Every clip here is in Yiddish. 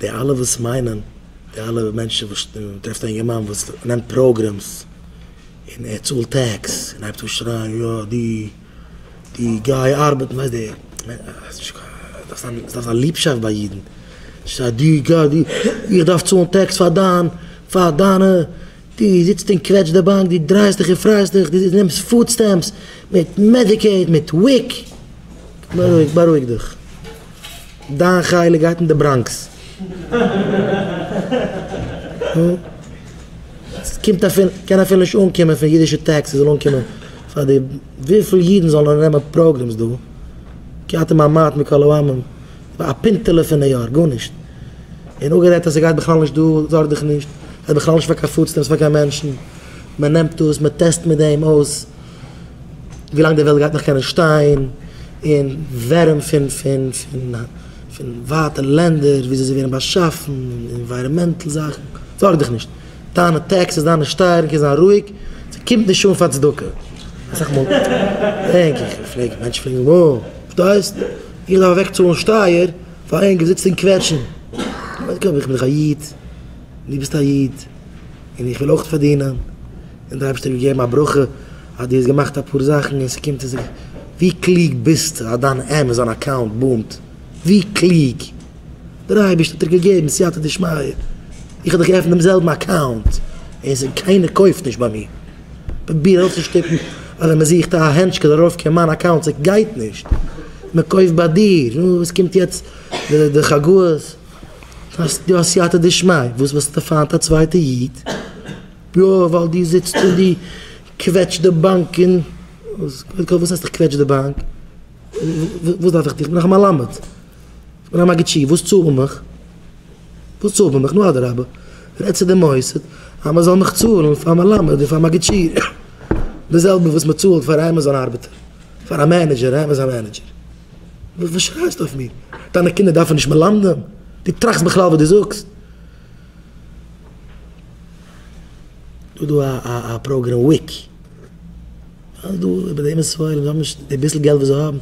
די אלע וואס מיינען, די אלע מענטשן וואס, מ'טרעפט א אינגערמאן וואס נעמט פראגרעמס, און ער צאלט טעקס, און הייבט אן שרייען יא די די גיי ארבעטן, ווייסט די ס'דארף זיין ליבשאפט ביי אידן, שרייט די גיי די איך דארף צאלן טעקס פאר דיין פאר דיינע דו זיצט און קוועטשט די באנק, דו דרייסט דיך און פרייסט דיך, דו נעמסט פוד סטעמפס, מיט מעדיקעיד, מיט וויק. בארואיג, בארואיג דיך. דיין חלק גייט אין די בראנקס. עס קומט אפילו, קען אפילו נישט אנקומען פון אידישע טעקסעס זאל אנקומען פאר די, וויפיל אידן זאלן אננעמען פראגרעמס דא? כמעט אין מיין מייט מקאלאוואמען. א פינטעלע פון די יאר, גארנישט. און אפגערעדט אז ס'גייט בכלל נישט דא, זארג דיך נישט, ס'גייט בכלל נישט פאר קיין פוד סטעמפס פאר קיין מענטשן, מען נעמט דאס, מען טעסט מיט דעם אויס ווילאנג די וועלט גייט נאך קענען שטיין, און ווערים פון פון פון פון ווייטע לענדער, וויאזוי זיי ווערן באשאפן, און ענווייראמענטל זאכן, זארג דיך נישט, דיינע טעקסעס, דיינע שטייערן קען זיין רואיג, ס'קומט נישט אן פאר צדקה. אסאך מאל דענק איך און פרעג, מענטשן פרעגן, וואו? וואס דו הייסט? איך דארף אוועק צאלן שטייער פאר איין געזיץ און קוועטשן, איך בין דאך א איד, דו ביסט א איד, און איך וויל אויך פארדינען, און דער אייבערשטער האט געגעבן א ברכה אז דו האסט געמאכט אפאר זאכן און ס'קומט עס, ווי קלוג ביסטו אז דיין עמעזאן אקאונט בומט, ווי קלוג, דער אייבערשטער האט דיר געגעבן סייעתא דשמיא, איך האב דאך געעפנט דעם זעלבן אקאונט און קיינער קויפט נישט ביי מיר. פרוביר אויסצושטופן אדער מען זוכט א הענטשקע דערויף קען מיין אקאונט ס'גייט נישט מען קויפט ביי דיר נו וואס קומט יעצט די חגאות האסט יא סייעתא דשמיא וואס וועסטו פיינט א צווייטע איד יא ווייל דו זיצט און דו קוועטשט די באנק און קודם כל וואס הייסט איך קוועטש די באנק וואס דארף איך דיך נאך א מלמד. און א מגיד שיעור, וואס צאלט מען מיך? וואס צאלט מען מיך? נו אדרבה, רעד צו די מוסד אז מען זאל מיך צאלן פאר מלמד און פאר מגיד שיעור, די זעלבע וואס מען צאלט פאר א עמעזאן ארבעטער, פאר א מענעדזשער, א עמעזאן מענעדזשער. וואס שרייסטו אויף מיר? דיינע קינדער דארפן נישט מלמדים? דו טראכסט בכלל וואס דו זאגסט? דא דא א א פראגרעם וויק, אז דא איבער די עמית ספרים, זיי האבן נישט די ביסל געלט וואס זיי האבן.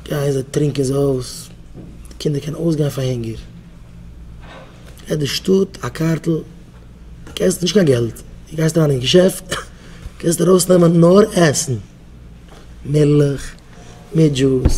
גייען זיי טרינקען זיי אויס, די קינדער קענען אויסגיין פאר הונגער, געט די שטאט א קארטל, די קענסט נישט קיין געלט, די גייסט אריין אין געשעפט קענסטו ארויסנעמען נאר עסן, מילך מיט דזשוס.